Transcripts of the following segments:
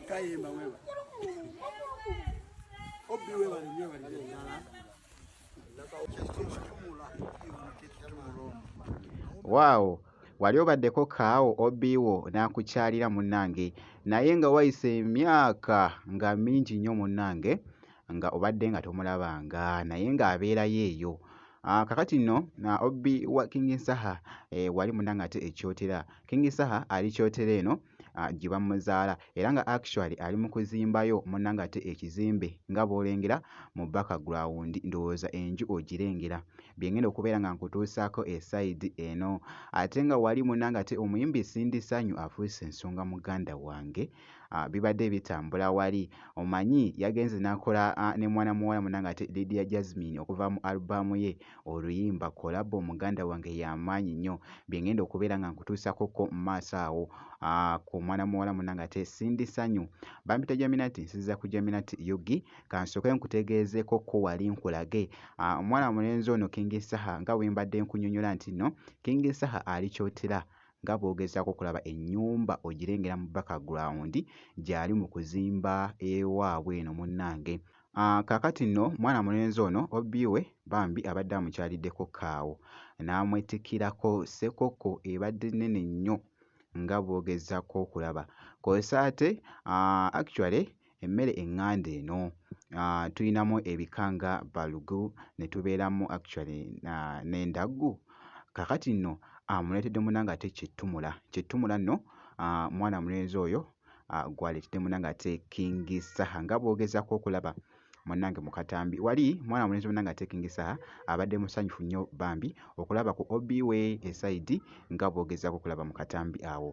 kayemba wewa obi wewa ni nyewa ni jala Wow, wali obaddeko kaawo obi wo n'akukyalira munnange naye nga wayise emyaka nga mingi nnyo munnange nga obadde nga tomulabanga naye ng'abeerayo eyo ah, kakati nno na obbi wa king nsaha eh, wali muna nga ate ekyotera king nsaha ali kyotera eno ah, gye bamuzaala era nga actually ali mu kuzimbayo muna nga ate ekizimbe nga bw'olengera mu background ndowooza enju ogirengera bye ngenda okubeera nga nkutuusaako esayidi eno ate nga wali muna nga ate omuyimbi sindi sanyu afuuse ensonga muganda wange bibadde bitambula wali omanyi yagenze n'akola ne mwana muwala munange ate Lydia Jasmine okuva mu albaamu ye oluyimba kolabo muganda wange y'amaanyi nnyo bye ngenda okubeera nga nkutuusako ko mu maaso awo ku mwana muwala munange ate Cindy Sanyu bampita Jaminati nsiza ku Jaminati Yugi kansooke nkutegeezeeko ko wali nkulage omwana mulenzi ono King Saha nga bwe mbadde nkunyonyola nti no King Saha ali kyotera nga bw'ogezaako okulaba ennyumba ogirengera mu background gyali mu kuzimba ewaabwe eno munnange. Ah, kaakati nno mwana mulenzi ono obbi we bambi abadde amukyaliddeko kaawo n'amwetikkirako ssekoko ebadde nnene nnyo nga bw'ogezaako okulaba. Kw'ossa ate ah, actually emmere eŋŋanda eno uh, tulinamu ebika nga balugu ne tubeeramu actually uh, n'endaggu kakati nno amuleetedde uh, munanga ate kyettumula kyettumula nno uh, mwana mulenzi oyo uh, gwaleetedde munanga ate kingi saha nga bwogezako okulaba munange mukatambi wali mwana mulenzi munange ate kingi saha abadde musanyufu nnyo bambi okulaba ku obi we esaidi nga bwogezako okulaba mukatambi awo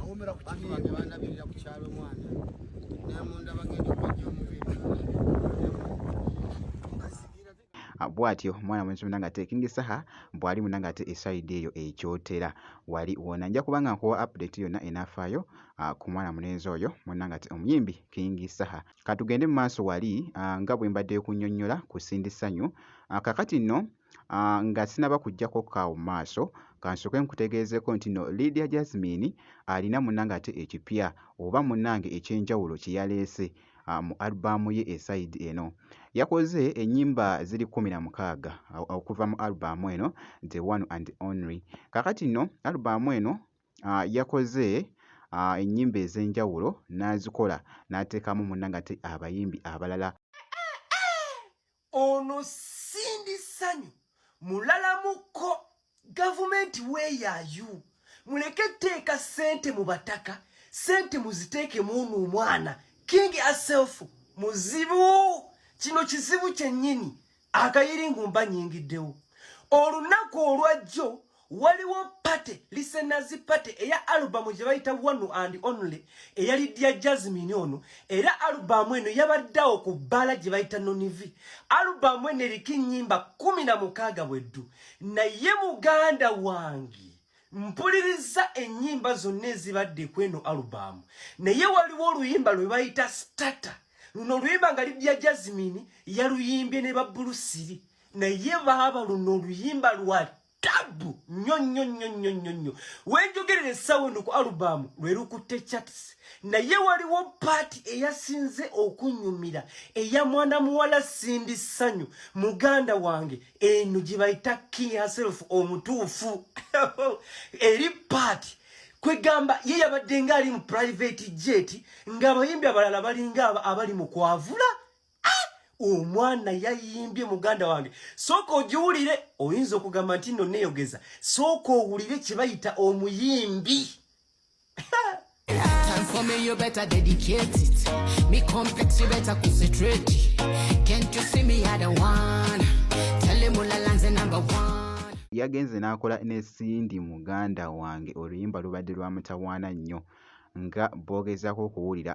awomera ku bantu bange bandabirira ku kyalo omwana nemunda bagenda okujja omubiri bwatyo omwana mwenzi muna nga taking saha bwali muna nga ate eside eyo ekyotera wali wona nja kubanga nkuwa update yona enafayo ah, ku mwana munenzi oyo muna nga ate omuyimbi king saha katugende mu maaso wali ah, nga bwe mbadde kunyonyola ku sindi sanyu ah, kakati nno Aah nga sinaba kujjako kaawo maaso kansooke nkutegeezeko nti no Lydia Jazmine alina munange ate ekipya oba munange ekyenjawulo kyeyaleese mu album ye e side eno. Yakoze enyimba ziri kumi na mukaaga okuva mu album eno the one and only. Kakati no album eno yakoze enyimba ezenjawulo nazikola natekamu munange ate abayimbi abalala. ono sindi sanyu mulalamuko gavumenti weyayu muleke teeka sente mu bataka sente muziteeke muunu omwana king aself muzibu kino kizibu kyennyini akayiringu mbanyingiddewo olunaku olwajjo waliwo pate lisenazi pate eya alubamu gye bayita one and only eyali dya jasmine ono era alubamu eno yabaddeawo ku bbaala gye bayita nonivi alubamu eno eriko ennyimba kumi na mukaaga bweddu naye muganda wange mpuliriza ennyimba zonna ezibadde ku eno alubamu naye waliwo oluyimba lwe bayita stata luno oluyimba nga lidya jasmine yaluyimbye ne babulusiri naye baaba luno oluyimba lwa tabu nnyo nnyo nnyo nnyo nnyo nnyo wenjogerera essaawa eno ku alubaamu lwe lukutte chats naye waliwo paati eyasinze okunyumira eya mwana muwala sindi ssanyu muganda wange eno gye bayita king herself omutuufu eri paati kwegamba ye yabadde ng'ali mu private jet ng'abayimbi abalala balinga abali mu kwavula ah! omwana yayimbye muganda wange sooka ogiwulire oyinza okugamba nti no neyogeza sooka owulire kyebayita omuyimbi For me, you better dedicate it. Me complex, you better concentrate. Can't you see me? I don't want. Tell him all the number one. yagenze n'akola ne Cindy muganda wange oluyimba lubadde lwamutawaana nnyo nga boogezaako okuwulira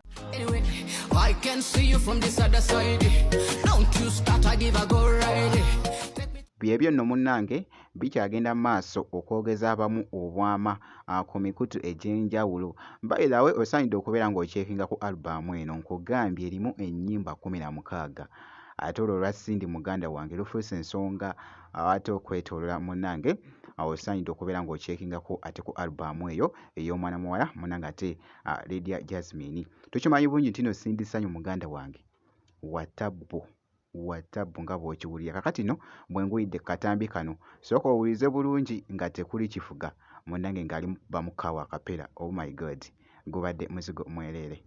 byebyo nno munnange bikyagenda maaso okwogeza abamu obwama ah, ku mikutu egy'enjawulo bairawe osaanidde okubeera ng'okyekinga ku albaamu eno nkugambye erimu ennyimba kumi na mukaaga ate olwo olwa sindi muganda wange lufuuse ensonga ah, ate okwetolola munnange ah, osaanidde okubeera ng'okyekingako ate ku albaamu eyo ey'omwana muwala munange ate uh, ledia jasmine tukimanyi bungi ntino sindisanyu muganda wange watabbu watabbu nga bwokiwulira kakati no bwenguyidde katambi kano sooka owulize bulungi nga tekuli kifuga munange ngaali bamukawa kapera oh my god gubadde muzigo mwereere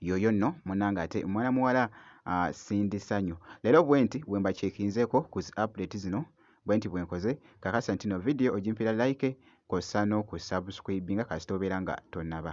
yoyo no munange ate mwana muwala uh, sindi sanyu lero bwenti wemba chekinzeko ku zi update zino bwenti bwenkoze kakasa ntino video ojimpira like kosa no ku subscribinga kasita obeera nga tonaba